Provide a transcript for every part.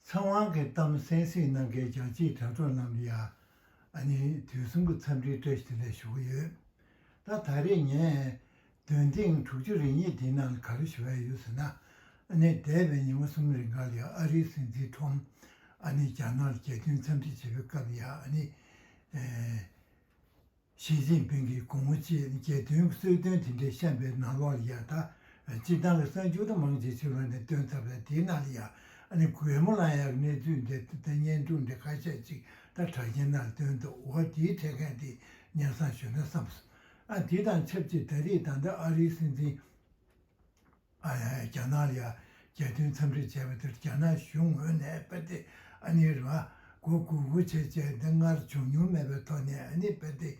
ཚངས་དབང་གིས་གཏམ་གསན་སྲིད་གནང་མཁན་རྒྱ་ཆེའི་དྲ་གྲོགས་རྣམས་ཀྱིས་ཡང་ནས་དུས་གསུམ་གྱི་འཚམས་འདྲིའི་བཀྲ་ཤིས་བདེ་ལེགས་ཞུ་གི་ཡོད། ད་ད་རེས་ངས་དོན་ཐེངས་དྲུག་ཅུ་རེ་གཉིས་དེའི་ནང་ལ་ག་རེ་ཞུ་བ་ཡོད་ཟེར་ན། ནས་འདས་པའི་ཉིན་མོ་གསུམ་རེ་འགའ་ལ་ཡང་ཨ་རིའི་སྲིད་འཛིན་ཁྲོམ། ནས་རྒྱ་ནག་ལ་རྒྱལ་སྟོན་འཚམས་འདྲི་བྱེད་པའི་སྐབས་ཡང་ནས། ཞི་ཅིན་ཕིང་གིས་གོང་བུ་བཅས་རྒྱལ་དོན་གྱི་གསོལ་སྟོན་དེ་འདྲའི་བཤམས་པའི་ནང་ལོགས་ལ་ཡང་དག་གཅིག་ཏང་གི་གསར་འགྱུར་མང་ཇེ་ཆེ་རུ་ནས་བཏོན་ཚར་བས་དེའི་ནང་ལ་ཡང་ཨ་ནེ་གོའེ་མོ་ལ་ཡང་གནས་ཚུལ་འདི་ལྟ་སྟེ་བརྙན་ཐུང་འདི་ཁ་ཤས་གཅིག་ལྟར་གྲགས་ཀྱི་ནང་ལ་བཏོན་འདུག་འོ་དེའི་འཕྲལ་མཁན་དེ་ཉན་བསམ་ཞུས་ན་བསམ་སོང་ཨ་དེ་དང་ཆབས་ཅིག་ད་རེས་ད་ལྟ་ཨ་རིའི་སྲིད་འཛིན། ཨ་ཡ་ཡ་རྒྱ་ནག་ལ་རྒྱལ་སྟོན་འཚམས་འདྲི་བྱས་པ་དེར་རྒྱ་ནག་གཞུང་ངོས་ནས་དཔལ་ལྡན་ཨ་ནེ་རི་བ་མགོ་སྒུར་སྒུར་བྱས་རྗེས་འདི་སྔར་བྱུང་མྱོང་མེད་པའི་ཐོག་ནས་ཨ་ནེ་དཔལ་ལྡན་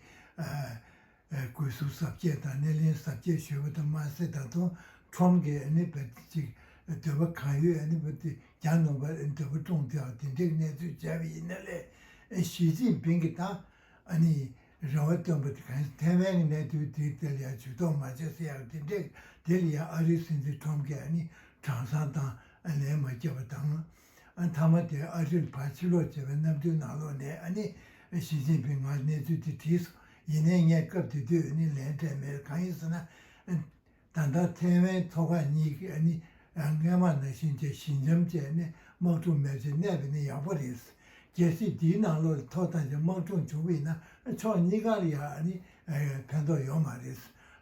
ཨའི་གུས་ཟུར་གཟབ་རྒྱས་དང་སྣེ་ལེན་གཟབ་རྒྱས་ཞུས་པ་དང་མ་ཟད་ད་དུང་ཁྲོམ་གྱི་ཨ་ནེ་དཔལ་ལྡན་ཅིག་འདོད་པ་གང་ཡོད་ཨ་ནེ་དཔལ་ལྡན་གྱ་ནོམ་པ་འདོད་པ་བཀྲོངས་དེའང་དེ་འགྲིག་གནས་ཚུལ་བྱས་པ་ཡིན་ནའི་ལས་ཞིས་ཅིན་ཕིང་གིས་དང་ཨ་ནེ་རེ་བ་བཏོན་པ་དེ་གང་ཞིག་ཐའེ་ཝན་གྱི་གནད་དོན་དེའི་ཐད་ལ་ཡང་ཇུས་གཏོགས་མ་བྱས་ཟེར་ཡག་དེ་འདྲས་དེ་ལ་ཡང་ཨ་རིའི་སྲིད་འཛིན་ཁྲོམ་ཀེ་ནི་དྲང་སྲང་དང་ལེན་མ་བྱས་པ་དང། མཐའ་མ་དེ་ཨ་རིར་ཕར་ཕྱིར་ལོག་བྱས་པའི་གནམ་སྟོན་ནང་ལོག་ནས་ནི་ཞི་ཅིན་ཕིང་ང་གནས་ཚུལ་དེ་བྲིས་སོང་ཡིན་ནའི་ངས་སྐབས་དེ་དུས་ནི་ལན་སྤྲད་མེད་ཀ་ཡིན་ཟེར་ན། ད་ལྟ་ཐའེ་ཝན་མཐོ་སྒང་གཉིས་ཀྱི་ནི་རྔན་མ་ནང་བཞིན་གྱི་ཞི་འཇམ་བཅས་ནི་དམག་གྲོང་མེད་ཅེས་གནས་པ་ནི་ཡག་པོ་རེད། རྒྱལ་སྤྱི་འདིའི་ནང་ལོ་ལ་ཐོག་ཐང་གི་དམག་གྲོང་བྱུང་བས་ན་ཕྱོགས་གཉིས་ཀར་ཡང་ནི་ཕན་ཐོགས་ཡོད་མ་རེད།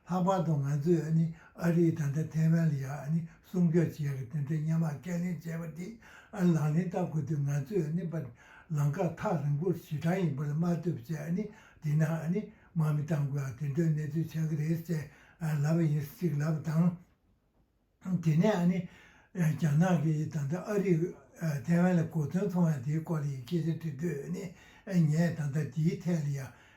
ལྷག་པར་དུ་ང་ཚོས་ནི་ཨ་རིས་ད་ལྟ་ཐའེ་ཝན་ལ་ཡང་ནི་སྲུང་སྐྱོབ་བྱེད་ཀྱི་དེ་འདྲའི་སྙན་མང་ཁས་ལེན་བྱས་པ་དེ་ལག་ལེན་བསྟར་དགོས་དུས་ང་ཚོས་ནི་པ་ལང་ཀ་ཐག་རིང་པོར་ཞི་དྲག་ཡིན་པ་ལ་དམག་དུབ་བཅས་ནི་དེ་ནང་ནི་དམག་མི་གཏང་དགོས་ཨ་དེ་འདྲ་གནས་ཚུལ་ཆགས་ཀྱི་རེད་ཟེར་ལབ་པ་ཡིན་གཅིག་ལབ་དང། དེ་ནས་ཨ་ནི་རྒྱ་ནག་གི་ད་ལྟ་ཨ་རིས་ཐའེ་ཝན་ལ་གོ་དོན་མཐོང་ཡང་དེའི་སྐོར་ལ་ཡི་སྐད་ཆ་འདྲི་དུས་ཨ་ནི་ངས་ད་ལྟ་དེའི་ཐད་ལ་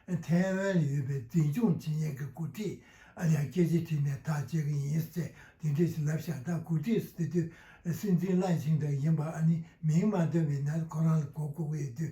ཡང་ཐའེ་ཝན་ལ་ཡོད་པའི་འཛིན་སྐྱོང་ཇི་སྙེད་ཀྱི་འགོ་ཁྲིད་ལ་ཡང་སྐད་ཆ་དྲིས་ནས་ཐག་བཅད་ཀྱི་ཡིན་ཟེར་དེ་འདྲ་ཞིག་ལབ་ཤག་ད་གོ་ཁྲིད་ཟེར་དུས་སྲིད་འཛིན་བླ་ཆེན་དག་ཡིན་པ་ཨ་ནི་མིང་མ་འདོན་པའི་ནད་ཁོ་རང་ལ་གོ་དགོས་ཀྱི་ཡོད་དུས་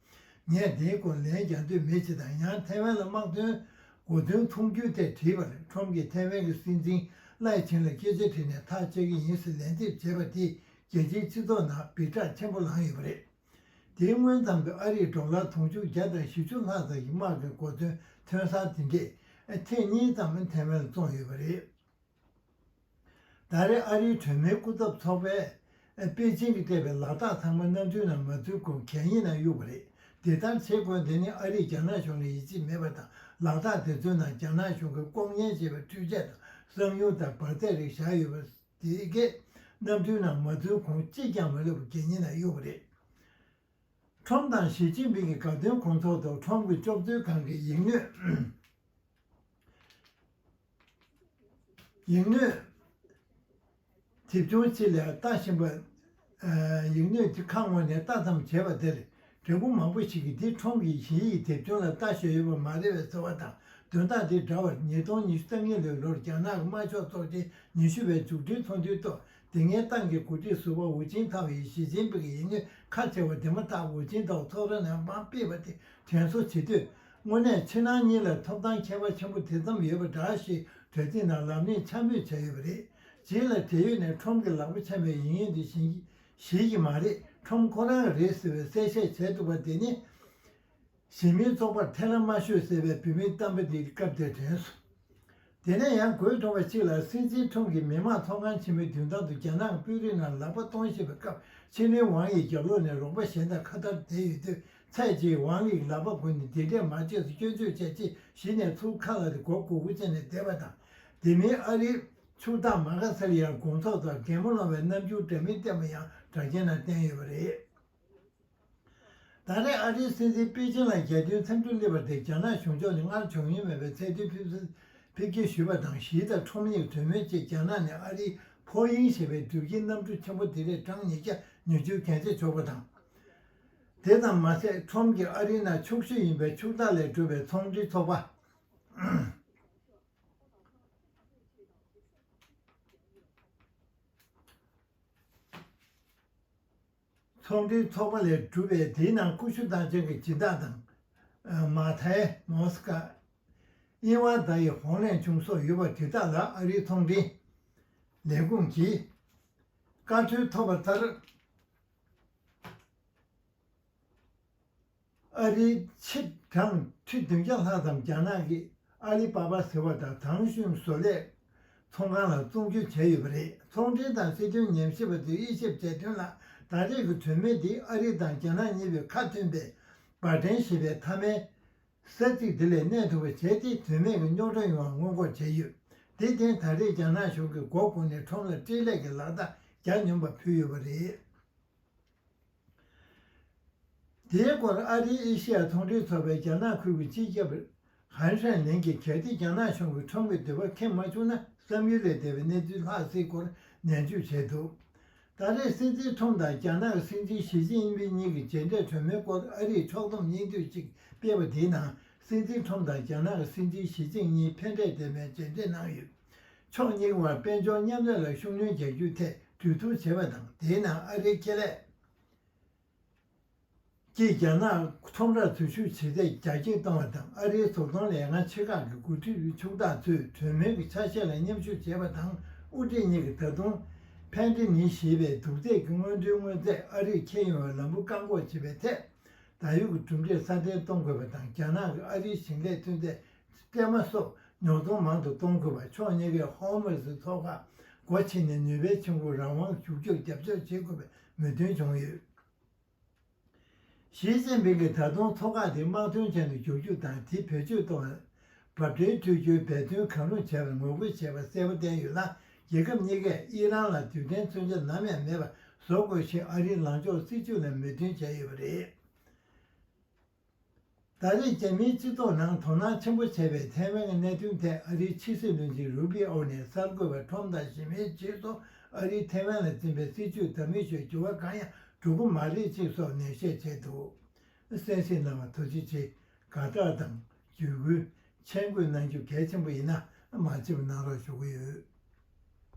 ངས་དེའི་སྐོར་ལན་རྒྱག་འདོད་མེད་ཅེས་དང་ཡང་ཐའེ་ཝན་ལ་དམག་དོན་སྒོ་དོན་མཐོང་རྒྱུའི་ཐད་དྲིས་པར་ཁྲོམ་གྱིས་ཐའེ་ཝན་གྱི་སྲིད་འཛིན་བླའི་ཆིང་ལ་སྐད་ཆ་དྲིས་ནས་ཐག་བཅད་ཀྱི་ཡིན་ཟེར་ལན་འདེབས་བྱས་པ་དེས་རྒྱལ་སྤྱིའི་སྤྱི་ཚོགས་ནང་སྦིར་གྲགས་ཆེན་པོ་ལངས་ཡོད་པ་རེད། དེའི་སྔོན་ཙམ་དུ་ཨ་རིས་འབྲོག་ལྷ་དུང་ཕྱུར་བརྒྱ་དང་བཞི་བཅུ་ལྷག་ཙམ་ཞིག་དམག་གི་སྒོ་དོན་ཐོན་སར་དེ་འདྲས་ཐེངས་གཉིས་ཙམ་ཐའེ་ཝན་ལ་བཙོངས་ཡོད་པ་རེད། ཟླ་རེར་ཨ་རིའི་གྲོས་མོལ་སྐུ་ཚབ་ཚོགས་པས་པེ་ཅིང་གིས་སྤྲད་པའི་ལག་རྟགས་ཚང་མ་གནམ་གྲུའི་ནང་མ་ཚུད་གོང་གད་སྙིགས་ནང་གཡུགས་པ་རེད། དེ་ལྟར་བྱེད་དགོས་དོན་ནི་ཨ་རིས་རྒྱ་ནག་གཞུང་ལ་ཡིད་ཆེས་མེད་པ་དང་ལག་རྟགས་དེ་ཚོའི་ནང་རྒྱ་ནག་གཞུང་གིས་ལྐོག་ཉན་བྱས་པའི་འཕྲུལ་ཆས་དང་གསང་ཉུལ་དང་འབར་རྫས་རིགས་བཞག་ཡོད་པ་དེ་གས་གནམ་གྲུའི་ནང་མ་ཚུད་གོང་གཅིག་ཀྱང་མ་ལུས་པར་གད་སྙིགས་ནང་གཡུགས་པ་རེད། ཁྲོམ་དང་ཞི་ཅིན་ཕིང་གི་དགའ་སྟོན་དགོང་ཚོགས་ཐོག་ཁྲོམ་གྱི་ལྕོགས་ཚོད་ཁང་གི་ཡིག་སྣོད། ཡིག་སྣོད། དེབ་ཆུང་གཅིག་ལས་རྟགས་གཞན་པ། ཡིག་སྣོད་ཀྱི་ཁ་སྔོན་ནས་བཏགས་ཙམ་བྱས་པ་དེར་འབྲས་བུ་མང་པོ་ཞིག་གིས་འདི་ཁྲོམ་གྱི་གཞི་ཡི་དེབ་ཆུང་ལ་བཏགས་ཤོས་ཡོད་པ་མ་རེད་བའི་ཚོར་བ་དང་དོན་དག་དེ་འདྲ་བར་ཉིས་སྟོང་ཉི་ཤུ་རྩ་གཉིས་ལོའི་ལོར་རྒྱ་ནག་གི་དམར་ཕྱོགས་ཚོགས་ཆེན་ཉི་ཤུ་བའི་མཇུག་སྒྲིལ་ཚོགས་འདུའི་ཐོག་དེ་སྔའི་ཏང་གི་འགོ་ཁྲིད་ཟུར་བ་ཝུའུ་ཅིན་ཐའོ་ཡིས་ཞི་ཅིན་ཕིང་གི་ཡིད་སྨོན་ཁ་ཆེ་བ་དེ་མ་ཐག་ཝུའུ་ཅིན་ཐའོ་ཚོགས་ར་ནས་དམའ་སྤེལ་བ་དེ་དྲན་གསོ་བྱེད་དུས། དངོས་གནས་ཕྱི་ནང་གཉིས་ལ་ཐོབ་ཐང་ཁྱད་པར་ཆེན་པོ་དེ་ཙམ་ཡོད་པ་འདྲ་ཞེས་གྲ་སྒྲིག་ནང་ལབ་གླེང་འཕྱ་སྨོད་བྱས་ཡོད་པ་རེད། རྗེས་ལ་བགྲེས་ཡོལ་ནས་ཁྲོམ་གྱི་ལག་པ་འཆང་བའི་ཡིན་ཡོད་འདི་བཞིན་གྱིས་གཞིས་ཀྱི་མ་རེད་ཁྲོམ་ཁོ་རང་གི་རེད་ཟེར་བའི་གསལ་བཤད་བྱས་འདུག་པ་དེ་ནི། གཞན་མིའི་ཚོགས་པར་ཐེ་ལ་མ་ཤོད་ཟེར་བའི་བུད་མེད་གཏམ་དཔེ་འདི་སྐབས་དེར་དྲན་སོང། དེ་ནས་ཡང་གོས་ཐུང་བ་གཅིག་ལ་སྲིད་འཛིན་ཁྲོམ་གྱི་མི་དམངས་ཚོགས་ཁང་ཆེན་མོའི་མདུན་ཐང་དུ་རྒྱ་ནག་དཔོན་རིགས་རྣམས་ལག་པ་གཏོང་བཞིན་པའི་སྐབས་ཆིན་ལིན་ཝང་ཡིས་རྒྱབ་ལོགས་ནས་རོགས་པ་གཞན་དང་ཁ་བརྡར་བསྡད་ཡོད་དུས་ཚད་ཀྱིས་ཝང་ལིས་ལག་པ་བསྒུར་ནས་འདི་འདྲས་མ་བྱས་སུ་སྐྱོན་བརྗོད་བྱས་ཅེས་གཞི་ནས་ཚུར་ཁ་ལ་སྒོ་དགུ་དགུ་བཅད་ནས་བསྡད་པ་དང། དེ་མིན་ཨ་རིའི་ཕྱུག་བདག་མ་ག་སེར་ཡང་དགོང་ཚོགས་དང་རྒན་མོ་སློང་བའི་རྣམ་འགྱུར་འདྲ་མིན་བསྟན་པ་ཡང་གྲགས་ཅན་རྣམས་བསྟན་ཡོད་པ་རེད། ད་རེས་ཨ་རིའི་སྲིད་འཛིན་པེ་ཅིན་ལ་རྒྱལ་སྟོན་འཚམས་འདྲི་སླེབས་པ་དེ་རྒྱ་ནག་གཞུང་ཕྱོགས་ནས་སྔར་བྱུང་མྱོང་མེད་པའི་ཚད་མཐོའི་ཕེབས་བསུ་ཕེབས་སྐྱེལ་ཞུས་པ་དང་ཞི་དང་ཁྲོམ་གཉེར་གྲོས་མོལ་བཅས་རྒྱ་ནག་ནས་ཨ་རིའི་ཕོ་དབྱིངས་ཞེས་པའི་གྲུབ་ཆའི་གནམ་གྲུ་ཆེན་པོ་དེ་རེས་གྲངས་ཉིས་བརྒྱ་ཉི་ཅུར་གན་རྒྱ་ཆོག་པ་དང། དེ་ཙམ་མ་ཟད་ཁྲོམ་གྱིས་ཨ་རིའི་ནང་ཕྱུག་ཤོས་ཡིན་པའི་ཕྱུག་བདག་ལས་གྲུབ་པའི་ཚོང་འབྲེལ་ཚོགས་པ། ཚོགས་འདུའི་ཚོགས་པ་ལས་གྲུབ་པའི་དེའི་ནང་ཀུ་ཤུ་དང་ཅང་གི་སྦྱིན་བདག་དང། མ་ཐའེ། མོ་སི་ཀ། དབྱིན་ཝང་བརྡ་ཡི་ཧོང་ལན་ཆུང་སོགས་ཡོད་པ་དེ་དག་ལ་ཨ་རིའི་ཚོང་འབྲེལ་ལས་ཁུངས་ཀྱིས་བཀའ་འཁྲོལ་ཐོབ་པ་ལྟར། ཨ་རིའི་ཕྱིར་འབྲངས་ཁྲི་བདུན་བརྒྱ་ལྷག་ཙམ་རྒྱ་ནག་གི་ཨ་ལི་པ་པ་ཟེར་བ་དང་ཐང་ཤུན་བཟོ་ལས་ཚོང་ཁང་ལ་བཙོང་བསྒྱུར་བྱས་ཡོད་པ་རེད། ཚོང་འབྲེལ་དང་སྲིད་དོན་ཉམས་ཞིབ་པ་ཚོས་དབྱེ་ཞིབ་བྱས་དོན་ལ་ད་རེས་ཀྱི་གྲོས་མོལ་འདི་ཨ་རི་དང་རྒྱ་ནག་གཉིས་པོས་ཁ་མཐུན་པའི་བར་འགྲན་ཞེས་པའི་མཐའ་མའི་ས་ཚིགས་དེ་ལས་གནས་ཐུབ་པ་བྱས་ཏེ་དོན་མེད་ཀྱི་རྙོག་དྲ་ཡོང་བ་སྔོན་འགོག་བྱས་ཡོད། དེ་བརྟེན་ད་རེས་རྒྱ་ནག་གཞུང་གིས་མགོ་བསྐོར་ནས་ཁྲོམ་ལ་སྤྲེལ་ལད་ཀྱི་ལག་རྟགས་རྒྱག་སྙམ་པ་ཕུལ་ཡོད་པ་རེད། དེའི་སྐོར་ཨ་རིའི་ཨེ་ཤེ་ཡ་ཚོང་འབྲེལ་ཚོགས་པའི་རྒྱ་ནག་ཁུལ་གྱི་སྤྱི་ཁྱབ། ཧན་ཧྲན་ལིན་གྱིས་གལ་ཏེ་རྒྱ་ནག་གཞུང་གིས་ཁྲོམ་གྱི་འདོད་པ་ཁེངས་མ་བྱུང་ན་བསམ་ཡུལ་ལས་འདས་པའི་གནས་ཚུལ་ལྷག་སྲིད་སྐོར་ནན་བརྗོད་བྱས་འདུག་ད་རེས་སྲིད་འཛིན་ཁྲོམ་དང་རྒྱ་ནག་གི་སྲིད་འཛིན་ཞི་ཅིན་ཕིན་གཉིས་ཀྱི་མཇལ་འཕྲད་གྲོས་མོལ་སྐོར་ཨ་རིས་ཕྱོགས་བསྡོམས་སྙིང་བསྡུས་ཤིག་སྤེལ་བ་དེའི་ནང་སྲིད་འཛིན་ཁྲོམ་དང་རྒྱ་ནག་གི་སྲིད་འཛིན་ཞི་ཅིན་གཉིས་ཕན་འབྲས་ལྡན་པའི་མཇལ་འཕྲད་གནང་ཡོད། ཕྱོགས་གཉིས་དབར་དཔལ་འབྱོར་མཉམ་ལས་ལ་ཤུགས་སྣོན་རྒྱག་རྒྱུ་ཐད་གྲོས་བསྡུར་བྱས་པ་དང་དེའི་ནང་ཨ་རིའི་ཁེ་ལས་ཀྱིས་རྒྱ་ནག་ཁྲོམ་རར་འཛུལ་ཞུགས་བྱེད་ཚད་རྒྱ་སྐྱེད་གཏོང་བ་དང་ཨ་རིའི་བཟོ་ཚོང་ལས་ཁང་ཆེ་ཁག་གི་མགོ་ཁྲིད་ཕྱུག་བདག་ཚོས་གྲོས་མོལ་གྱི་ཆ་ཤས་ལ་མཉམ་ཞུགས་བྱས་པ་དང་དབུ་ཁྲིད་གཉིས་ཀྱིས་ད་དུང། Pantene། ཞེས་པའི་དུག་རྫས་ཀྱི་སྔོན་འགྲོའི་དངོས་རྫས་ཨ་རིར་ཁྱེར་ཡོང་བའི་ལམ་བུ་བཀག་འགོག་བྱེད་པའི་ཐད་ད་ཡོད་ཀྱི་གྲུབ་འབྲས་སྲ་བརྟན་གཏོང་དགོས་པ་དང་རྒྱ་ནག་གིས་ཨ་རིའི་ཞིང་ལས་ཐོན་རྫས་སྐྱེལ་མ་སོགས་ཉོ་ཚོང་མང་དུ་གཏོང་དགོས་པར་ཕྱོགས་གཉིས་ཀས་ཧོར་མུས་ཙི་ཚོགས་ཁག་སྒོ་ཕྱེ་ནས་ནུས་པའི་ཆུ་འགོ་རང་དབང་ཞུགས་རྒྱུར་རྒྱབ་སྐྱོར་བྱེད་དགོས་པའི་མོས་མཐུན་བྱུང་ཡོད། ཞིས་ཅིན་ཕིང་གིས་ད་དུང་ཚོགས་ཁག་དེ་དམག་དོན་ཅན་དུ་འགྱུར་རྒྱུ་དང་དེ་བེད་སྤྱོད་གཏོང་བའི་འབབ་འཕྲལ་འཕྲུལ་སྒྱུར་འབད་བརྩོན་གང་རུང་བྱེད་པར་ངོ་རྒོལ་བྱེད་པ་གསལ་པོ་བསྟན་ཡོད་ལ་རྒྱལ་ཁབ་གཉིས་ཀས་ཨི་རན་ལ་དུས་དྲན་མཚོན་ཆ་ནམ་ཡང་མེད་པ་བཟོ་དགོས་ཞེས་ཨ་རིའི་ལངས་ཕྱོགས་སྲིད་བྱུས་ལ་མོས་མཐུན་བྱས་ཡོད་པ་རེད། ད་རེས་རྒྱ་མིའི་སྤྱི་ཚོགས་ནང་དོ་སྣང་ཆེན་པོ་བྱས་པའི་ཐའེ་ཝན་གྱི་གནད་དོན་ཐད་ཨ་རིའི་ཕྱི་སྲིད་བློན་ཆེན་རུ་པི་ཨོ་ནས་གསར་འགོད་པ་ཁྲོམ་དང་ཞི་མིའི་ཆེད་གཏོགས་ཨ་རིས་ཐའེ་ཝན་ལ་འཛིན་པའི་སྲིད་བྱུས་དང་མི་ཆོས་འགྱུར་བ་གང་ཡང་འགྲོ་གི་མ་རེད་ཅེས་སོགས་ནན་བཤད་བྱས་འདུག་གསན་གཟིགས་གནང་བར་ཐུགས་རྗེ་ཆེ། དགའ་སྤྲོ་དང། བརྒྱུད་སྐུལ། མཆན་འགོད་གནང་རྒྱུ་གལ་ཆེན་པོ་ཡིན་ན་མ་བརྗེད་པ་གནང་རོགས་ཞུ་གི་ཡོད།